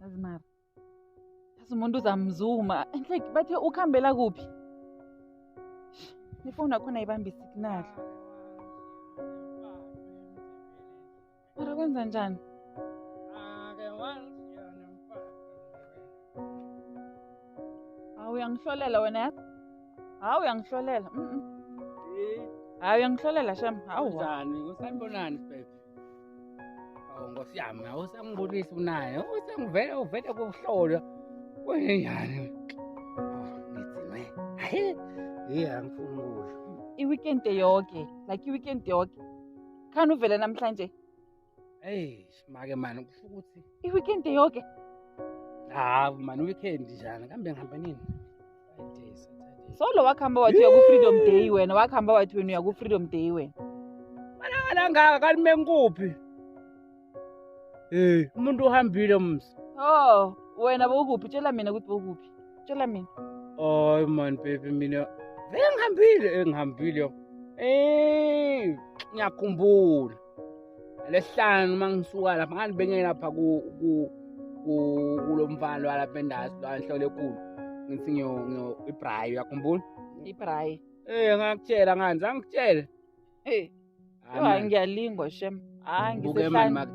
yazi mara yazi umuntu uzamzuma and like bathe ukuhambela kuphi nefoni yakhona ibambe isignal mara kwenza njani hawu uyangihlolela wena yazi hawu uyangihlolela mm, mm. hawu uyangihlolela shem hawu Kunjani? Kusanibonani sibheke? awu nkosi yami awusangibulisi unaye usangivele uvele kuhlolwa kwenjani ngidzinwe hayi yiye angifuni ukusho i-weekend yoke like i-weekend yoke khani uvele namhlanje eyi make mani kusho ukuthi i-weekend yoke hawu mani i-weekend njani kambe ngihambe nini so lo wakuhamba wathi uya ku-freedom day wena wakuhamba wathi wena uya ku-freedom day wena malangangaka kalime nkuphi um umuntu uhambile msa o oh, wena bowukuphi tshela mina ukuthi bowukuphi tshela mina oy mani bebi mina vele ngihambile engihambile um ngiyakhumbula lesihlanu uma ngisuka lapha ngani bengeke lapha kulo mfana lwalapha endasi lwanhlole ekulu ngithi ngiyo-ibrayi uyakhumbula ibrayi Eh ngakutshela ngani zangitshela. Hey. Hayi ngiyalingwa shem. Hayi ngisehlala.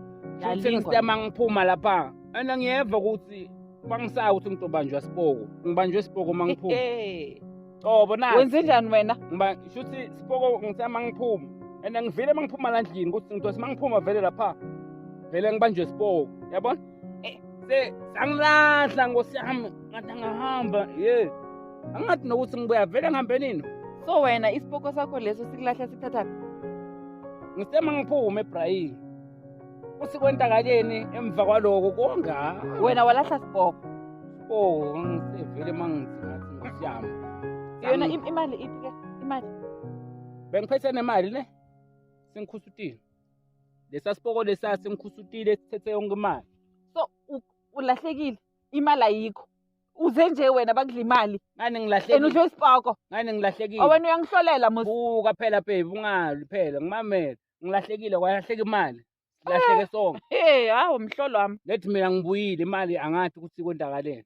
Futhi ngisitema ngiphuma lapha. Ana ngiyeva ukuthi bangisaya ukuthi ngizobanjwa siboko. Ngibanjwe siboko mangiphuma. cobo na wenze njani wena ngiba shuthi sipoko ngithe uma ngiphuma and ngivile uma ngiphuma la ndlini ukuthi ngidose uma ngiphuma vele lapha vele ngibanjwe sipoko yabona eh, se sangilahla nkosi yami ngathi angahamba ye angathi nokuthi ngibuya vele ngihambe nini so wena isipoko sakho leso sikulahla sikuthathaphi ngisema ngiphume ebrayini Uthi kwenzakaleni emva kwaloko konga. Wena walahla sibhoko. Oh, ngisevele mangithi ngathi ngosiyami. Yona imali iphi ke? Imali. Bengiphethe nemali ne? Sengikhusutile. Lesa sibhoko lesa sengikhusutile sithethe yonke imali. So ulahlekile. Imali ayikho. Uze nje wena bakudla imali. Ngani ngilahlekile. Ena udlo isibhoko. Ngani ngilahlekile. Awena uyangihlolela musa. Buka phela babe ungali phela ngimamela. ngilahlekile kwalahleka imali silahleke sonke hey hawu mhlolo wami lethi mina ngibuyile imali angathi ukuthi kontakaleni